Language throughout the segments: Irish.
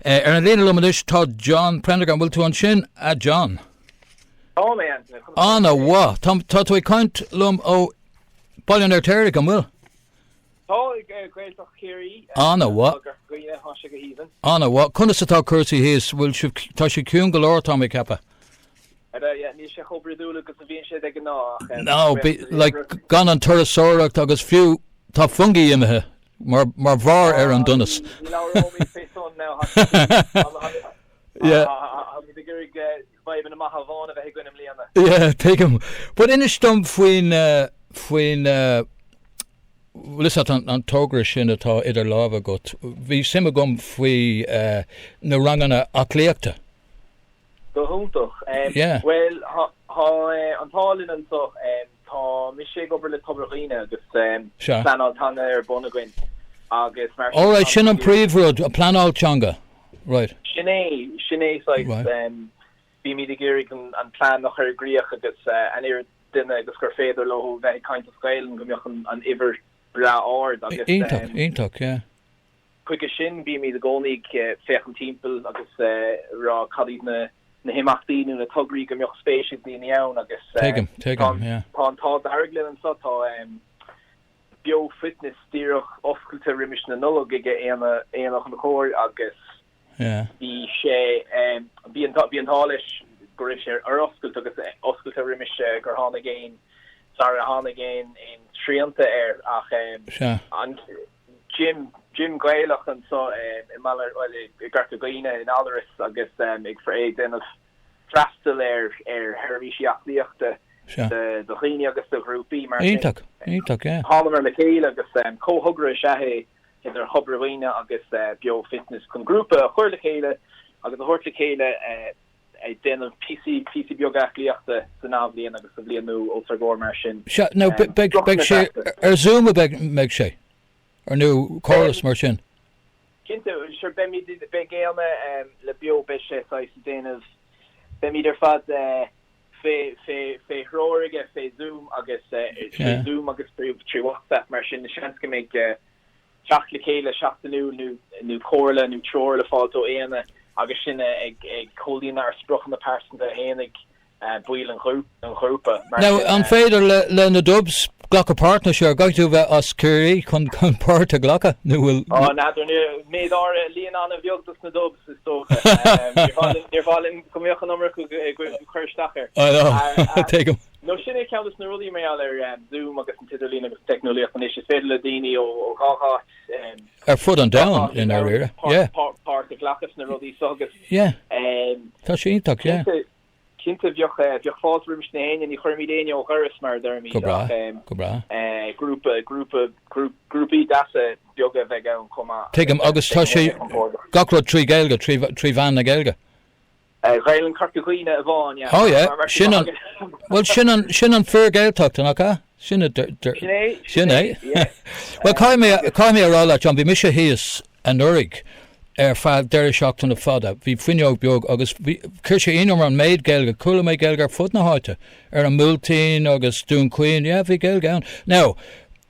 Ar an líne liom anois tá John Prendergast. An bhfuil tú ansin, a John? Tá mé anso. Conas tá Ana sé? mhaith. Tá tá tú ag caint liom ó Baile an Fheirtéaraigh, an bhfuil? Tá ag eh, Gaeltacht Chiarraí eh, Ana mhaith. tá gar- gaoithe tá sé go haoibhinn. Ana bhá, conas atá cúrsaí thíos? Bhfuil sibh, tá sé ciún go leor, tá mé ag ceapadh. Níl sé chomh brúidiúil agus a bhíonn sé de ghnáth ach like gan an turasóireacht agus fiú tá Fungie imithe mar mar bharr ar an donas. Yeah tuigim. But inis dom faoin faoin bhfuil fhios agat an togra sin atá idir lámha agat, bhí suim agam faoi na ranganna aclaíochta. Go hiontach. Bhuel, tá an t-ádh linn anseo. Tá mise ag obair le Tobar Dhuibhne agus pleanáil teanga ar bun againn agus mar sin tá muid ag iarraidh go mbeadh an príomhrud an phleanáil teanga. Sin é, sin é, saghas. Bímid ag iarraidh an plean a chur i gcrích agus an oiread duine agus gur féidir leo a bheith ag caint as Gaelainn go mbeadh an uimhir breá ard agus. Iontach, iontach, yeah. Chuige sin, bímid i gcónaí ag féachaint timpeall agus a rá cad iad na himeachtaí nó na tograí go mbeadh spéis ag daoine ann agus tá an t-ádh dearg linn anseo, tá Beo Fitness díreach oscailte roimis na Nollag ag Aonghus Ó Conchúir agus bhí sé, bhí an t-ádh leis go raibh sé ar oscailt agus oscailte roimis gur tháinig aon, sara tháinig aon srianta air ach an. Gym Gaelach anso i mBaile, bhuel, i gCorca Dhuibhne, i nGallarus agus ag déanamh freastal ar sheirbhísí aclaíochta do dhaoine agus do ghrúpaí mar sin. Iontach, iontach, yeah. Thánamar le chéile agus comhthogra is ea é idir Thobar Dhuibhne agus Beo Fitness chun grúpa a chur le chéile agus a thabhairt le chéile, ag déanamh píosaí, píosaí beaga aclaíochta san athbhliain agus sa bhliain nua os ar gcomhair mar sin. Sea, now beidh, beidh sé, ar Zoom a bheidh, mbeidh sé? Or nó córas mar sin? Cinnte, sure beimid, beidh éinne le Beo beidh sé saghas déanamh, beimid ar fad eh fé, fé, fé threoir aige fé Zoom agus eh, trí Zoom agus trí, trí WhatsApp mar sin, seans go mbeidh eh, teacht le chéile seachtainiúil nó comhairle nó treoir le fáilt ó aoíanna agus sinn ag comhlíonadh ár spriocanna pearsanta faoi mar bhaill an ghrúpa. Mar Now, sin. an féidir le na Dubs glacadh páirt nó sure gcaithfidh tú bheith as Ciarraí chun páirt a ghlacadh nó bhfuil. Oh, n'fheadar. Méid áirithe, líon an-bheag dos na Dubs, is dócha. Níor mhaith linn go mbeadh an iomarca ag cur isteach air. I know. Tuigim. Nó sin é ceann de na rudaí maidir le Zoom agus an t-idirlíon agus an teicneolaíocht anois, is féidir le daoine ó gach áit, ar fud an domhain i ndáiríre, páirt a ghlacadh sna rudaí seo agus tá sé iontach, yeah. Cinnte bheadh fáilte roimis aon éinne, ní chuirmid éinne ó dhoras mar a deirimid ach grúpa grúpa grúpaí deasa beaga a bheith ann chomh maith. Tuigim agus tá sé gach rud trí Gaeilge, trí mheán na Gaeilge? Gaelainn Chorca Dhuibhne amháin, yeah. Oh yeah, sin an, bhuel sin an, sin an fhíor-Ghaeltacht, nach ea? Sin a d-, d-, Sin é, sin é, yeah. Bhuel caithfidh mé, caithfidh mé a rá leat, John, bhí mise thíos anuraidh ar feadh deireadh seachtaine fada, bhí fuinneog beag agus bhí, chuir sé ionadh orm an méid Gaeilge, chuala mé Gaeilge ar fud na háite, ar an mBuailtín agus Dún Chaoin, yeah, bhí Gaeilge ann. Now,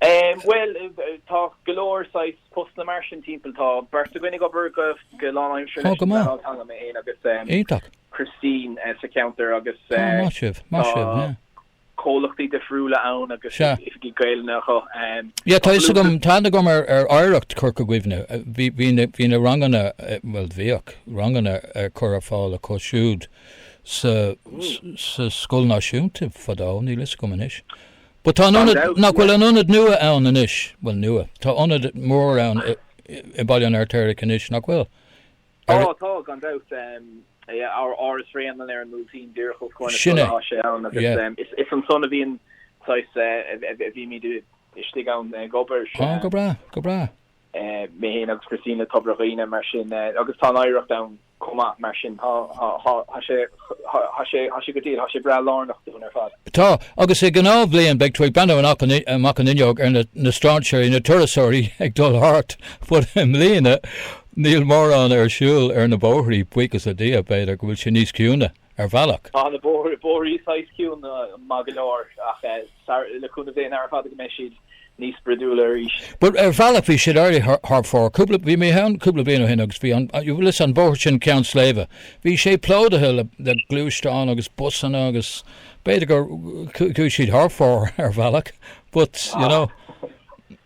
Bhuel, tá go leor saghas postanna mar sin timpeall. Tá beirt againn ag obair go lánaimseartha leis an bpleanáil teanga, mé féin agus Cristín sa cheantar agus tá comhlachtaí difriúla ann agus oifigí Gaelainne acu. Yeah, tá fhios agam, tá aithne agam ar Oidhreacht Chorca Dhuibhne. Bhí na ranganna, bhuel bhíodh ranganna ar cur ar fáil acu siúd sa scoil náisiúnta fadó, níl fhios agam anois. But tá an ionad, nach bhfuil an ionad nua ann anois, bhuel nua, tá ionad mór ann i Baile an Fheirtéaraigh anois, nach bhfuil? Tá, tá, gan dabht, yeah, Áras Bhréanainn, an Músaem, díreach os comhair na scoile, tá sé ann agus is ansan a bhíonn, saghas, a bhímid istigh ann ag obair. Ó, go breá, go breá. mé féin agus Cristín le Tobar Dhuibhne, mar sin, agus tá an Oidhreacht ann. chomh maith. Mar sin, tá sé, tá sé, tá sé go diail, tá sé breá lárnach dúinn ar fad. Tá, agus i ngnáthbhliain beidh tú ag breathnú amach an, amach an fhuinneog ar na, na stráinséirí, na turasóirí ag dul thart, but i mbliana níl mórán ar siúl ar na bóithrí, buíochas le Dia, b'fhéidir go bhfuil sé níos ciúine, ar bhealach. Tá na bóithrí, bóithrí saghas ciúin maith go leor ach eh. Ara, le cúnamh Dé, nara fada go mbeidh siad níos spridiúla arís. Bhuel, ar bhealach bhí siad éirithe thar fóir. Cúpla, bhí mé ann cúpla bliain ó shin agus bhí an, bhí an bóthar sin Cheann Sléibhe, bhí sé plódaithe le, le gluaisteáin agus busanna agus b'fhéidir gur, chuaigh siad thar fóir ar bhealach but, you know.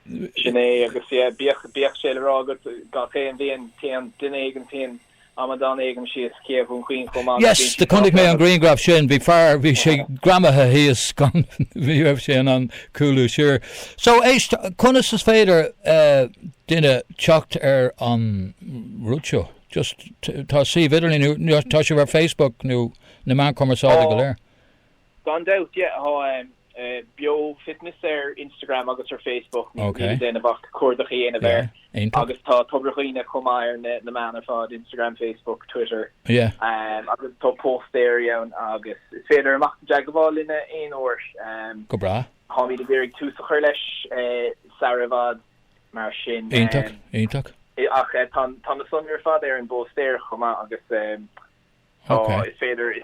Sin é agus yeah, bíodh, bíodh sé le rá agat gach aon bhliain téann duine éigin, téann, amadán éigin síos Cé Dhún Chaoin chomh maith agus bíonn sé Chonaic mé an griangraf sin, bhí fear, bhí sé greamaithe thíos gan, ní raibh sé in ann cúlú siar. So, éist, conas is féidir duine teacht ar an rud seo? Just, tá suíomh idirlín, tá, an bhfuil sibh ar Facebook nó na meáin chumarsáide go léir? Gan dabht, yeah, tá Beo Fitness ar Instagram agus ar Facebook, níl le déanamh ach cuardach a dhéanamh air. Agus tá Tobar Dhuibhne chomh maith ar na meáin ar fad, Instagram, Facebook, Twitter, agus tá póstaerí ann agus is féidir imeacht i dteagmháil linn aon uair. Go breá. Táimid ag iarraidh tús a chur leis sara i bhfad, mar sin. Iontach, iontach. Ach tá na sonraí ar fad ar an bpóstaer chomh maith agus Tá, is féidir,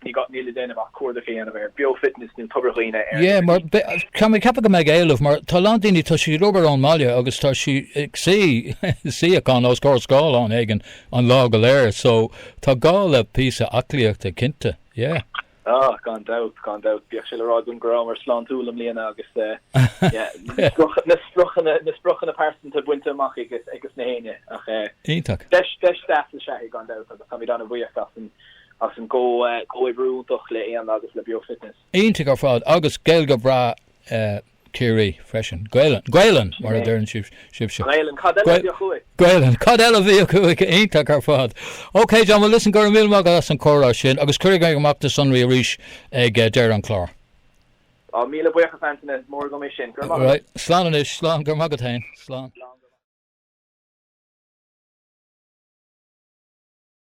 níl le déanamh ach cuardach a dhéanamh ar Beo-fitness nó Tobar Dhuibhne ar. Yeah, mar tá mé ag ceapadh go mbeidh éileamh mar tá a lán daoine, tá siad ag obair ón mbaile agus tá siad ag suí, suíochán os comhair scáileáin éigin an lá go léir so tá gá le píosa aclaíochta cinnte, yeah. Ah, gan dabht, gan dabht. Bíodh sé le rá againn go rabhamar sláintiúil i mbliana agus na spriocanna pearsanta bainte amach ag gach éinne. Ach deis deas is ea é, gan dabht, agus táimid an-bhuíoch as an gcomhoibriú iontach le Éanna agus le Beo Fitness. Iontach ar fad, agus Gaeilge bhreá. Ciarraí freisin. Gaelainn, Gaelainn! mar a deireann sibhse. Gaelainn, cad eile a bheadh acu? Iontach ar fad. OK, John, bhuel listen, go raibh míle maith agat as an chomhrá sin agus cuirfidh mé amach do sonraí arís ag deireadh an chláir. Á, míle buíochas Antaine, is mór agam é sin. Go raibh maith agat. Right, slán anois, slán, go raibh maith agat féin. Slán.